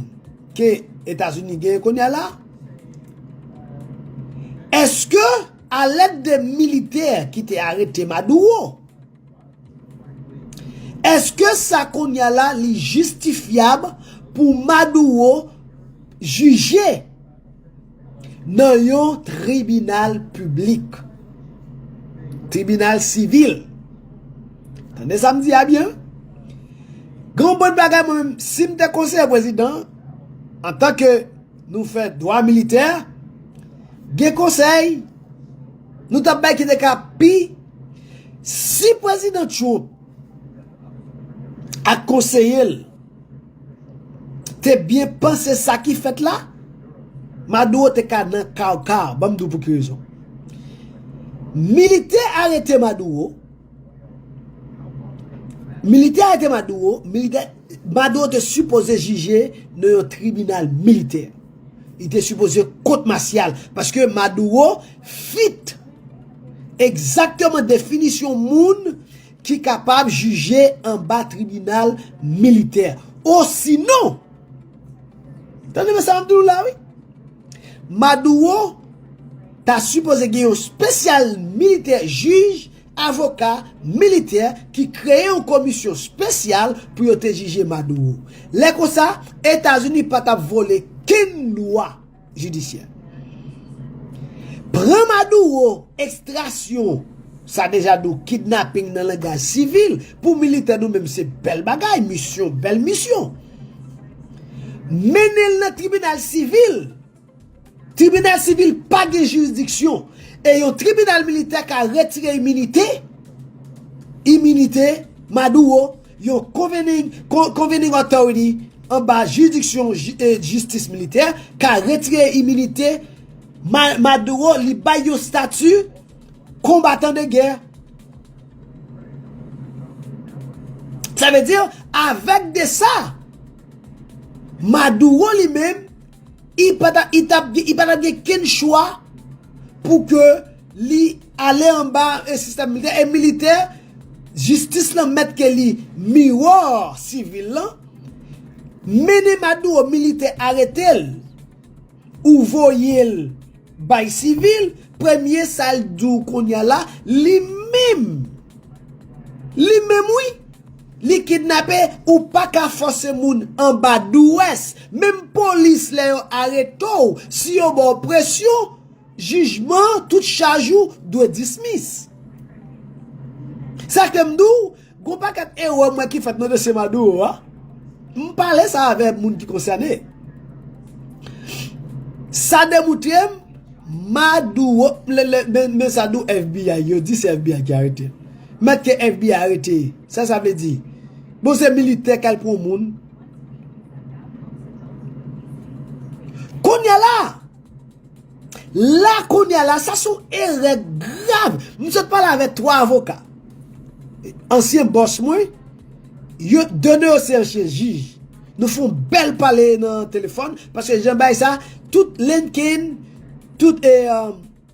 ke Etazini genyen kounya la, eske a lèd de militè ki te arete Maduro, eske sa kounya la li jistifyab pou Maduro jije? Nan yon tribinal piblik. Tribinal sivil. Tande sa m di a byen. Gen yon bon bagay mwen menm, si m te konseye prezidan, antanke nou fè dwa militè, gen konsèy nou ta bay ki te ka pi, si prezidan Trump ak konseye l, Te byen panse sa ki fèt la? Maduro te ka nan kaw kaw, banm di w pou ki rezon. Militè arete Maduro, militè arete Maduro, militè, Maduro te sipoze jije nan yon tribinal militè. Li te sipoze kot masyal, paske Maduro fit egzakteman definisyon moun ki kapab jije anba tribinal militè osinon tande men sa map di nou la wi Maduro ta sipoze gen yon spesyal militè jij avoka militè ki kreye yon komisyon spesyal pou yo te jije Maduro lè konsa etazini patap vole kenn lwa. jidisyè. Pran Maduro, ekstrasyon, sa deja dou kidnaping nan langaj sivil, pou militè nou menm se bèl bagay, misyon, bèl misyon. Mennen l nan tribinal sivil, tribinal sivil pa gen jirisdiksyon, e yon tribinal militè ka retire iminite, iminite, Maduro, Yon Convening Convening Authority anba jiridiksyon jistis militè ka retire iminite Maduro li bay yon stati konbatan de gè. Sa vle di, avèk de sa, Maduro li menm, li pa t ap gen kenn chwa pou ke. Li ale anba e sistèm militè e militè jistis lan mèt ke li miwòr sivil lan mennen maduro militè aretel ou voyel bay sivil premye sal diw kounya la li menm li menm wi li kidnape ou paka fòse moun anba douwès menm polis lè yo aretow si yo baw presyon Jijman tout chaj ou dwe dismiss. Sa fèm di w, gon pakèt erè m wè ki fèt nan dosye Maduro a. M pale sa avè moun ki konsène. Sa demoutre m, Maduro, men sa di w FBI, yo di se FBI ki arete l. Mèt ke FBI arete, sa sa vle di? Bon se militè kal pran moun. Kounya la! La kounye a la, sa son erè grav. M sot pale avèk 3 avoka. Ansyen bòs mwen, yo 2 nan yo se ansyen jij. Nou fon bèl pale nan telefòn, paske jan bay sa, tout LinkedIn, tout e,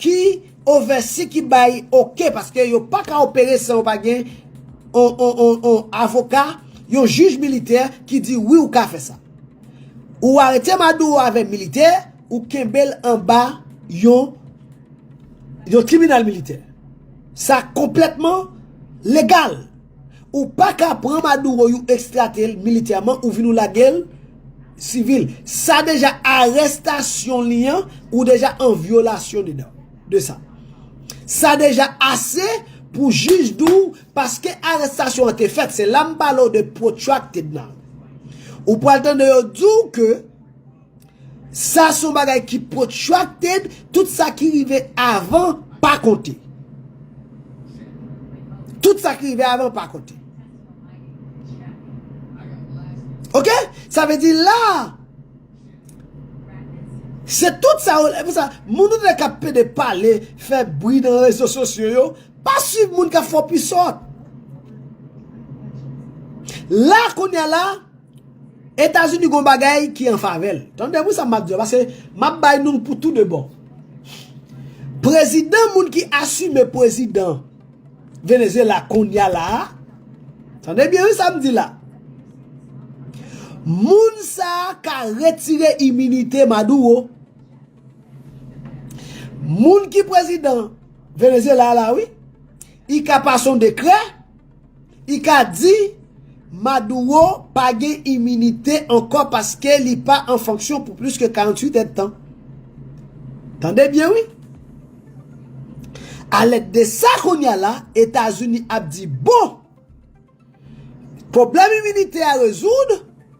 Ki ovèsi ki bay ok paske yo pa ka opere san yo pa gen yon avoka, yon jij militè ki di wi ou ka fè sa. Ou arete Maduro avè militè, ou kenbe l anba yon tribinal militè. Sa konplètman legal. Ou paka pran maduro you extratel militèman ou vin ou lagel civil sa deja arèstasyon li an ou deja an vyolasyon dedan de sa sa deja ase pou jij diw paske arèstasyon an te fèt se la m pale w de protracted nan ou pral tande yo diw ke Sa son bagay ki protracted, tout sa ki rive avan pa konte. Tout sa ki rive avan pa konte. Ok? Sa ve di la, se tout sa ou, e pou sa, moun ou dek ap pede pale, fe bri nan rezo sosyo yo, pa swiv moun ka fo pi sot. La kounye la. Etazini gon bagay ki an favè l. Tande pou sa m ap di yo paske m ap bay nou l pou tou de bò. Prezidan moun ki asime prezidan Venezyela kounya la a, tande byen wi sa m di la, moun sa a ka retire iminite Maduro. Moun ki prezidan Venezyela la wi, li ka pase yon dekrè. I ka di, Maduro pa gen iminite ankò paske li pa an fonksyon pou plis ke 48 èdtan. Tande byen wi! A lèt de sa kounya la, Etazini ap di, bon! Pwoblèm iminite a rezoud,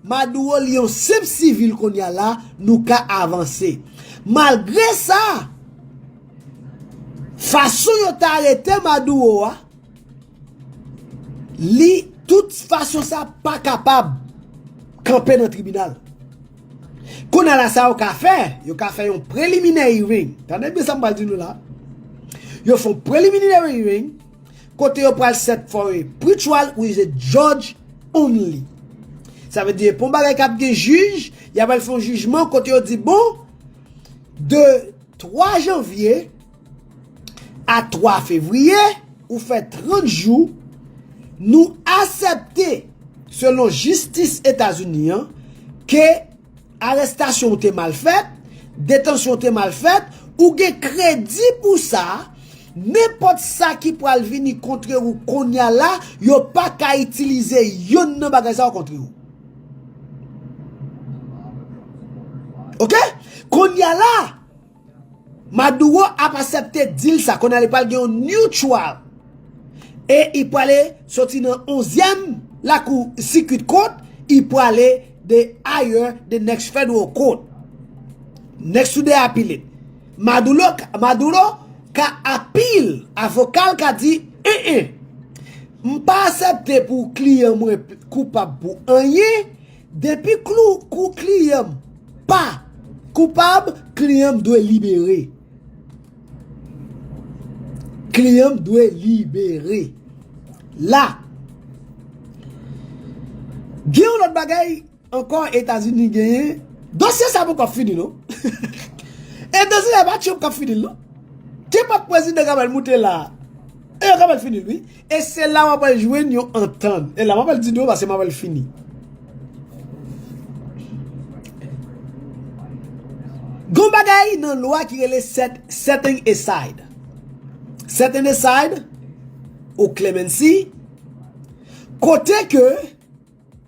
Maduro li yon senp sivil kounya la, nou ka avanse. Malgre sa, fason yo ta arete Maduro a, Li tout fason sa pa kapab kanpe nan tribinal. Kounye a la sa yo ka fè, yo ka fè yon preliminary hearing. Tande byen sa m pral di nou la. Yo fon preliminary hearing kote yo pral set for a pre-trial with a judge only. Sa vle di pon bagay kap gen jij, ya pral fon jijman kote yo di bon de 3 janvier A 3 fevriye, ou fè 30 jou, nou asèpte, selon jistis Etazini an, ke arestasyon ou te mal fèt, detansyon ou te mal fèt, ou gen kredi pou sa, nenpòt sa ki pral vini kontre ou konnya la, yo pa ka itilize yonn nan bagay sa yo kontre ou. Ok? Konnya la! Maduro ap asepte deal sa kounye a li pral gen yon new trial e i prale soti nan onzyèm lakou circuit court i prale de higher the next federal court next to the appellate Maduro ka appeal avoka l ka di en en m pa asepte pou kliyan mwen koupab pou anyen Depi klou kou kliyan m pa koupab kliyan m dwe libere. Kliyan m dwe libere. La gen yon lòt bagay ankò Etazini genyen, dosye sa poko fini non. E dosye sa pa Trump k ap fini l non. Kenpòt prezidan k ap al moute la e yo kapab fini l wi. E se la w ap al jwenn yon antann. E la m ap al di nou paske m ap al fini. Gon bagay nan lwa ki rele setting aside. Setting aside ou clemency kote ke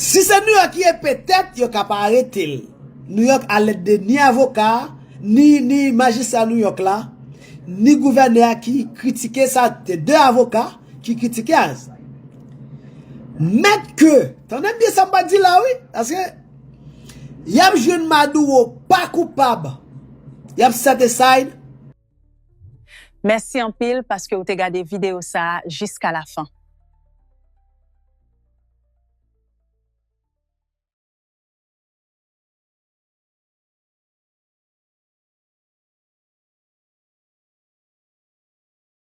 Si se New York ye petèt yo ka pa arete l. New York a lèt de ni avoka a, ni majistra New York la, ni gouvènè a ki kritike sa, te 2 avoka ki kritike a. Mèt ke, tande byen sa m pral di la wi, paske y ap jwenn Maduro pa koupab, y ap set aside. Mèsi anpil paske ou te gade videyo sa a jiska la fen.